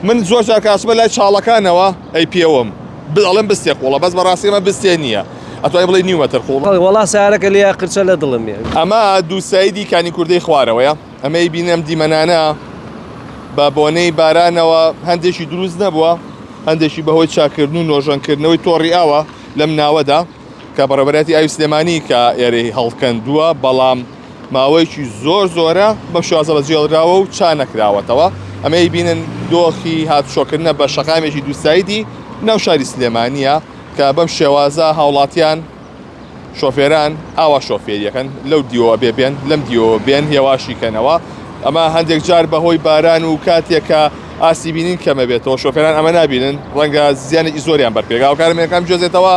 من زۆر جار کە ئەچمە لای چاڵەکانەوە ئەی پێوم بل ئەڵێن بستێ قوڵە بەس بەڕاستی ئەمە بستێ نییە ئەتوانی بڵێی نیو مەتر قوڵە. ئەڵێ وەڵا سارەکە لیا قرچە لە دڵم یە. ئەمە دوو سایدی کانی کوردەی خوارەوەیە ئەمەی بینی ئەم دیمەنانە بە بۆنەی بارانەوە هەندێکی دروست نەبووە هەندێکی بەهۆی چاکردن و نۆژەنکردنەوەی تۆڕی ئاوە لەم ناوەدا کە بەڕێوەبەرایەتی ئاوی سلێمانی کە ئێرەی هەڵکەندووە بەڵام ماوەیەکی زۆر زۆرە بەم شێوازە بەجێهێڵراوە و چا نەکراوەتەوە، ئەمەی بینن دۆخی هاتوچۆکردنە بە شەقامێکی دووسایدی ناو شاری سلێمانییە کە بەم شێوازە هاوڵاتیان، شۆفێران ئاوا شۆفێری ئەکەن، لەو دیوەوە بێ بێن، لەم دیوەوە بێن هێواشی کەنەوە، ئەمە هەندێک جار بەهۆی باران و کاتێک کە ئاستی بینین کەمەبێتەوە شۆفێران ئەمە نابینن، ڕەنگە زیانێکی زۆریان بەر پێگاوکارە مێنەکان بگوێزێتەوە.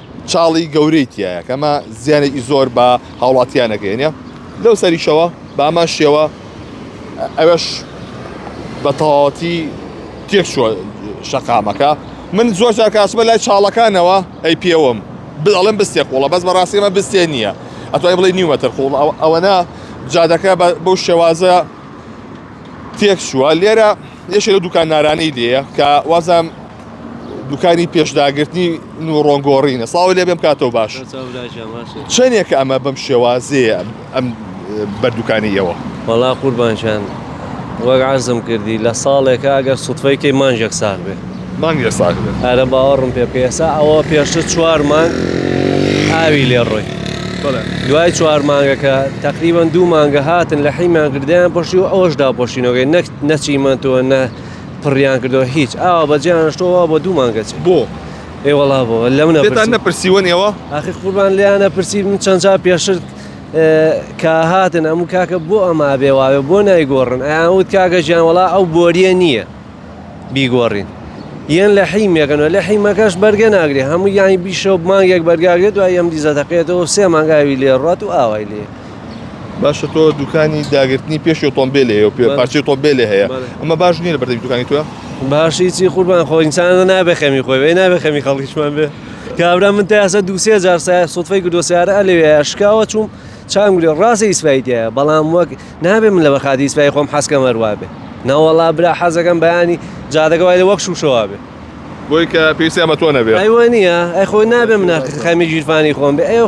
چاڵی گەورەی تیایە کە ئەمە زیانێکی زۆر بە هاوڵاتیانەکەێنە لەو سەریشەوە بامان شێوە ئەوەش بە تەواتی تێکشوە شەقامەکە من زۆر جار کاسمە لای چاڵەکانەوە ئەی پێوەم بڵێن بستێ قوڵە بەس بەڕاستیمە بستێ نییە ئەتوای بڵێ نیوەتر قوڵ ئەوەنا جادەکە بەو شێوازە تێکشوە لێرە یەشێ لە دوکان نارانەی لێە کە وازم دوکانی پێشداگرتنی نوڕۆن گۆڕینە ساوە لێ بێم کاتەوە باش چەندێکە ئەمە بەم شێوازەیە ئەم بەردووکانی ئێوە وەڵا قوربانشان وەک عزم کردی لە ساڵێکە ئەگەر سوتفەیکەی مانجێک ساغ بێ مانگێ ساغ ئەرە باوەڕم پێ بکە ئێسا ئەوە پێشتر چوار مانگ ئاوی لێ ڕۆی دوای چوار مانگەکە تقریبان دوو مانگە هاتن لە حیمان گردیان پۆشی و ئەوەش داپۆشینەوەی نەک نەچیمەندەوە نە پڕیان کردەوە هیچ ئاوا بەجێیان هەشتووە وا بۆ دوو مانگە چێ. بۆ؟ ئێ وەڵا بۆ لەم نەپرسی. پێتان نەپرسیون ئێوە؟ ئاخر قوربان لێیان ئەپرسی من چەند جار پێشتر کە هاتن ئەموو کاکە بۆ ئەمە ئەبێ وا بێ بۆ نایگۆڕن ئەیان وت کاکە گیان وەڵا ئەو بۆرییە نییە بیگۆڕین یەن لە حیمێکن و لە حیمەکەش بەرگە ناگرێ هەموو یانی بیشە و مانگێک بەرگا گرێ دوای یەم دیزە تەقێتەوە و سێ مانگ ئاوی لێ ڕات و ئاوای لێ باشە تۆ دوکانی داگررتنی پێشی ئۆتۆمبیلێ و پێ پارچی تۆمبیلێ هەیە ئەمە باش نییە لە بەردەی دوکانی توە باشی چی قوربان خۆ ئینسان نابێ خەمی خۆی بێ نابێ خەمی خەڵکیشمان بێ کابرا من تاسە دووسێ جار سای سوفەی گردۆ سیارە لەوێ شکاوە چوم چام گرێ ڕاستە ئیسفایتە بەڵام وەک نابێ من لە بەخاتی ئیسفای خۆم حەسکە مەروە بێ ناوەڵا برا حەزەکەم بەیانی جادەکە وای لە وەک شوشەوە بێ بۆی کە پێویستی ئەمە تۆ نەبێ ئەیوە نییە ئەی خۆی نابێ منە خەمی گیرفانی خۆم بێ ئەو